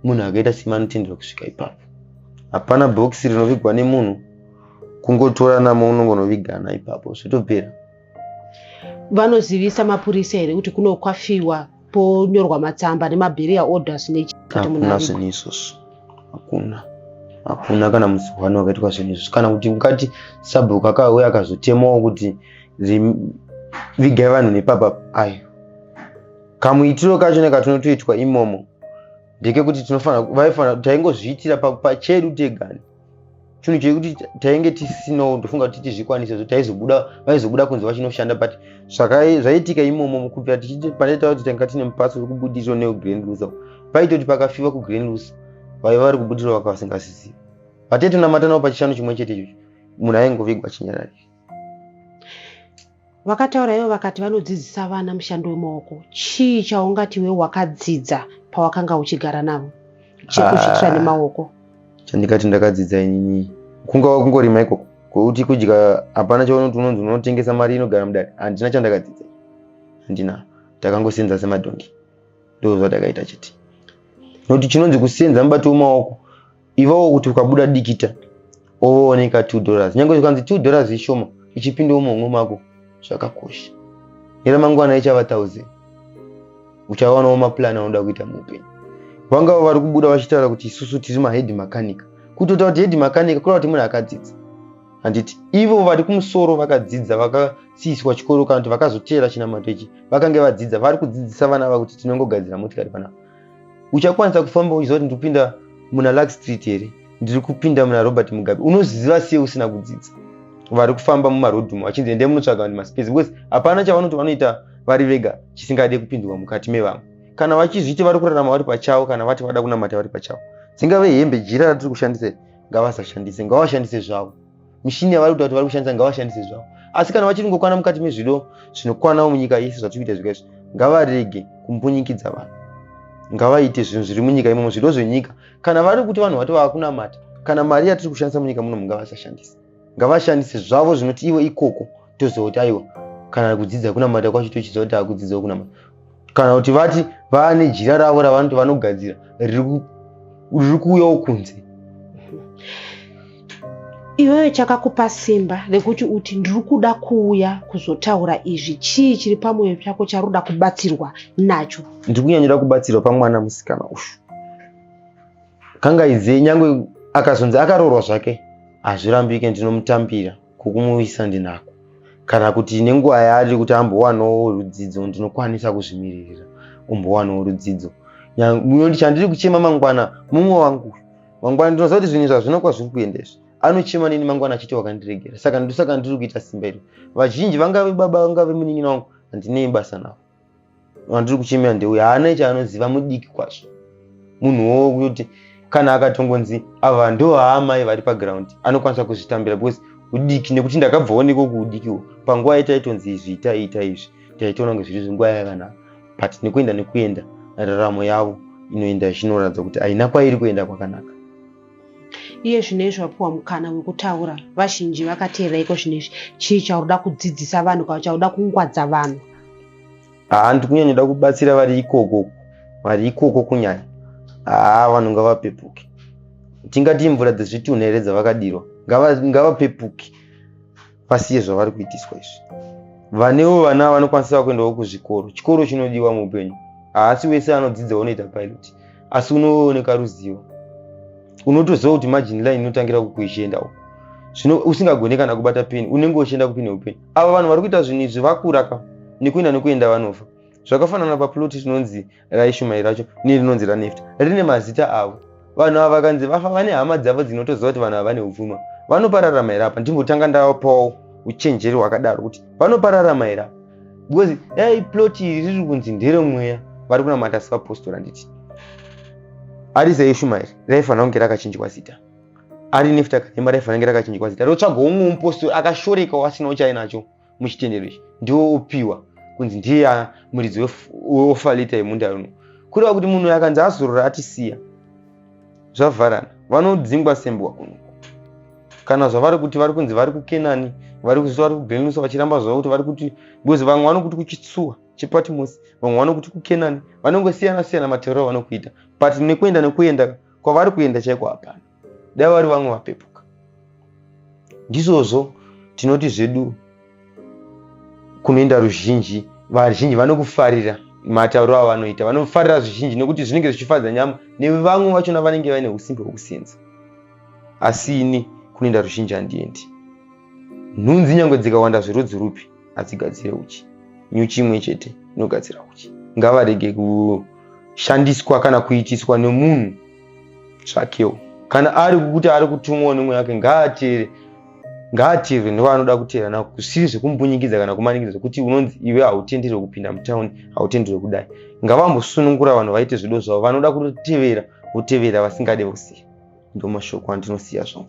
munhu akaita sima anotendera kusvika ipapo hapana bhokisi rinovigwa nemunhu kungotora namo unongonovigana ipapo zvotopera vanozivisa mapurisa here kuti kuno kwafiwa ponyorwa matsamba nemaberial orders nehakuna zvinhu izvozvo hakuna hakuna kana musi one wakaitwa zvinhu izvozvo kana kuti mukati sabhuku akauya akazotemawo kuti vigai vanhu nepapa ayo kamuitiro kacho nekatinotoitwa imomo ndekekuti tinofanira vaifana taingozviitira pachedu tegani chinhu chekuti tainge tisino ndofunga kuti tizvikwanise so taizobuda vaizobuda kunzi vachinoshanda but zvaiitika imomo kubvira tichipanaita kuti tanga tine mupatso wekubudiriro neugrand lusa paitoti pakafiwa kugrand lusa vaiva vari kubudiriro vaka vasingasizivi vatete namatanavo pachishanu chimwe chete ichocho munhu aingovigwa chinyararire Vakataura ivo vakati vanodzidzisa vana mushando wemaoko. Chii chaungati iwe wakadzidza pawakanga uchigara navo chekuzviitira ah, nemaoko? Chandikati ndakadzidza inini kungava kungorima ikoko kwekuti kudya hapana chaunoti unonzi unotengesa mari inogara mudare handina chandakadzidza handina takangosenza semadhongi ndozvatakaita chete nokuti chinonzi kusenza mubato wemaoko ivawo kuti ukabuda dikita ooneka 2 dollars nyange zvikanzi 2 dollars ishoma ichipindawo muhomwe mako zvakakosha neramangwana ichava 1000 uchawanawo maplan anoda kuita muupenyu vangava vari kubuda vachitaura kuti isusu tiri mahedi makanika kutoita kuti hedi makanika kureva kuti munhu akadzidza handiti ivo vari kumusoro vakadzidza vakasiiswa chikoro kana kuti vakazoteera chinamato ichi vakange vadzidza vari kudzidzisa vana vavo kuti tinongogadzira motikari panapa uchakwanisa kufamba uchiziva kuti ndikupinda muna lak street here ndiri kupinda muna robert mugabe unoziva siye usina kudzidza vari kufamba mumarodhum vachinzi endai munotsvaga vanhu maspace because hapana chavanoti vanoita vari vega chisingade kupindurwa mukati mevamwe kana vachizviti vari kurarama vari pachavo kana vati vada kunamata vari pachavo dzingave hembe jira ratiri kushandisa ngavasashandise ngavashandise zvavo mishini yavari kuta kuti vari kushandisa ngavashandise zvavo asi kana vachiri kungokwana mukati mezvido zvinokwanawo munyika yese zvatiri kuita zvika izvi ngavarege kumbunyikidza vanhu ngavaite zvinhu zviri munyika imomo zvido zvenyika kana vari kuti vanhu vato vava kunamata kana mari yatiri kushandisa munyika muno mungavasashandise ngavashandise zvavo zvinoti ivo ikoko toziva kuti aiwa kana kudzidza kunamata kwacho tochiziva kuti akudzidza kunamata kana kuti vati vane jira ravo ravanoti vanogadzira riri kuuyawo kunze iwewe chakakupa simba rekuti uti ndiri kuda kuuya kuzotaura izvi chii chiri pamwoyo chako chari kuda kubatsirwa nacho ndiri kunyanyira kubatsirwa pamwana musikana uyu kangaidzei nyange akazonzi akaroorwa zvake hazvirambike ndinomutambira kukumuisa ndinako kana kuti nenguva yaari kuti ambowanawo rudzidzo ndinokwanisa kuzvimiririra umbowanawo rudzidzo nyanguyo chandiri kuchema mangwana mumwe wangu mangwana ndinoziva kuti zvinhu zvazvino kwazviri kuenda izvi anochema neni mangwana achiti wakandiregera saka ndosaka ndiri kuita simba iri vazhinji vangave baba vangave munin'ina wangu handinei basa navo wandiri kuchemera ndeuyo haana chaanoziva mudiki kwazvo munhu wowo kuti kana akatongonzi ava ndo haamai vari paground anokwanisa kuzvitambira because udiki nekuti ndakabvaoneko kuudikiwo panguva yataitonzi izvi ita ita izvi taitoona kunge zviri zvinguva yakanaka but nekuenda nekuenda raramo yavo inoenda zvinoratidza kuti haina kwairi kuenda kwakanaka iye zvino izvi vapiwa mukana wekutaura vazhinji vakateerera iko zvino izvi chii chauda kudzidzisa vanhu kana chauda kungwadza vanhu haa ah, ndikunyanyoda kubatsira vari ikoko vari ikoko kunyanya haa ah, vanhu ngavapepuke tingati imvura dzezvitunhu here dzavakadirwa ngavapepuke ngava vasiye zvavari kuitiswa izvi vanewo vana vanokwanisa kuendawo kuzvikoro chikoro chinodiwa muupenyu haasi wese anodzidza unoita pilot asi unooneka ruzivo unotoziva kuti margin line inotangira kukuichienda uko zvino usingagone kana kubata peni unenge uchienda kupi neupeni ava vanhu vari kuita zvinhu izvi vakura ka nekuenda nekuenda vanofa zvakafanana paploti tinonzi raishumai racho nerinonzi ranefta rine mazita avo vanhu ava vakanzi vafa vane hama dzavo dzinotoziva kuti vanhu ava vane upfuma vanopararama here apa ndimbotanga ndapawo uchenjeri hwakadaro kuti vanopararama here apa because dai plot iri riri kunzi nderemweya vari kunamata sevapostora nditi ari seishumairi raifanira kunge rakachinjwa zita ari nefta kanema raifanira kunge rakachinjwa zita rotsvagawo umwe mupostori akashorekawo asinawo chainacho muchitendero ichi ndiwo opiwa kunzi ndiye muridzi weofalita yemunda uno kureva kuti munhu akanzi azorora atisiya zvavharana vanodzingwa sembwa kuno kana zvavari kuti vari kunzi vari kukenani vari kuziva vari kubenusa vachiramba zvavo kuti vari kuti because vamwe vanokuti kuchitsuwa chepatimosi vamwe vanokuti kukenani vanongosiyana siyana matorero vanokuita but nekuenda nekuenda kwavari kuenda chaiko hapana dai vari vamwe vapepuka ndizvozvo tinoti zvedu kunoenda ruzhinji vazhinji vanokufarira matauriro avanoita vanofarira zvizhinji nekuti zvinenge zvichifadza nyama nevamwe vachona vanenge vaine usimbe hwekusenza asi ini kunoenda ruzhinji handiendi nhunzi nyange dzikawanda zverudzi rupi hadzigadzire uchi nyuchi imwe chete inogadzira uchi ngavarege kushandiswa kana kuitiswa nemunhu tsvakewo kana ari kukuti ari kutumwawo nemweya wake ngaateere ngaateerwe nevanoda kuteera navo kusiri zvekumbunyikidza kana kumanikidza zvekuti unonzi iwe hautenderwe kupinda mutauni hautenderwe kudai ngavambosunungura vanhu vaite zvido zvavo vanoda kutotevera votevera vasingade vosiya ndomashoko andinosiya zvangu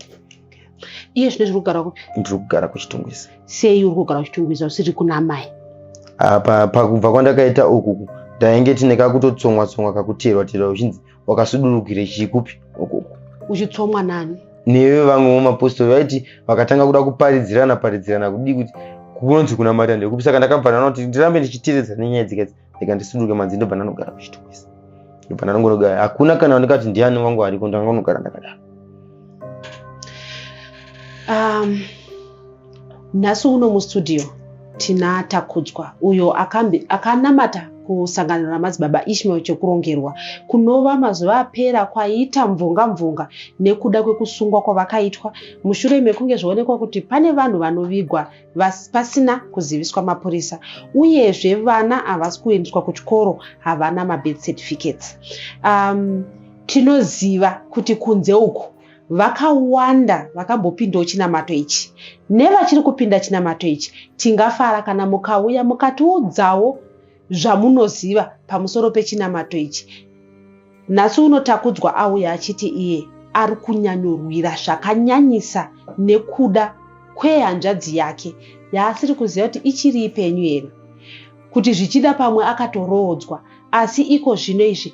iye zvino zviri kugara kupi ndiri kugara kuchitungwiza sei uri kugara kuchitungwiza usiri kuna mai apa pakubva kwandakaita uku ndainge tine kakutotsongwa tsongwa kakuteerwa teerwa uchinzi wakasudurukire chii kupi ukoko uchitsomwa nani newe vamwe vemapostori vaiti vakatanga kuda kuparidzirana paridzirana kudii kuti kunonzi kuna mari andekupi saka ndakabva ndana kuti ndirambe ndichiteredza nenyaya dzikadzi ndika ndisuduruke madzi ndobva ndanogara kuchitokisi ndobva ndanongonogara hakuna kana wanika kuti ndiani wangu ariko ndangonogara ndakadaro um, Nhasi uno mustudio tina Takudzwa uyo akambi akanamata kusangano ramadzibaba Ishmael Chokurongerwa kunova mazuva apera kwaita mvunga mvunga nekuda kwekusungwa kwavakaitwa mushure mekunge zvoonekwa kuti pane vanhu vanovigwa pasina kuziviswa mapurisa uyezve vana havasi kuendeswa kuchikoro havana mabirth certificates um, tinoziva kuti kunze uku vakawanda vakambopindawo chinamato ichi nevachiri kupinda chinamato ichi tingafara kana mukauya mukatiudzawo zvamunoziva pamusoro pechinamato ichi nhasi uno takudzwa auya achiti iye ari kunyanyorwira zvakanyanyisa nekuda kwehanzvadzi yake yaasiri kuziva kuti ichiri ipenyu here kuti zvichida pamwe akatoroodzwa asi iko zvino izvi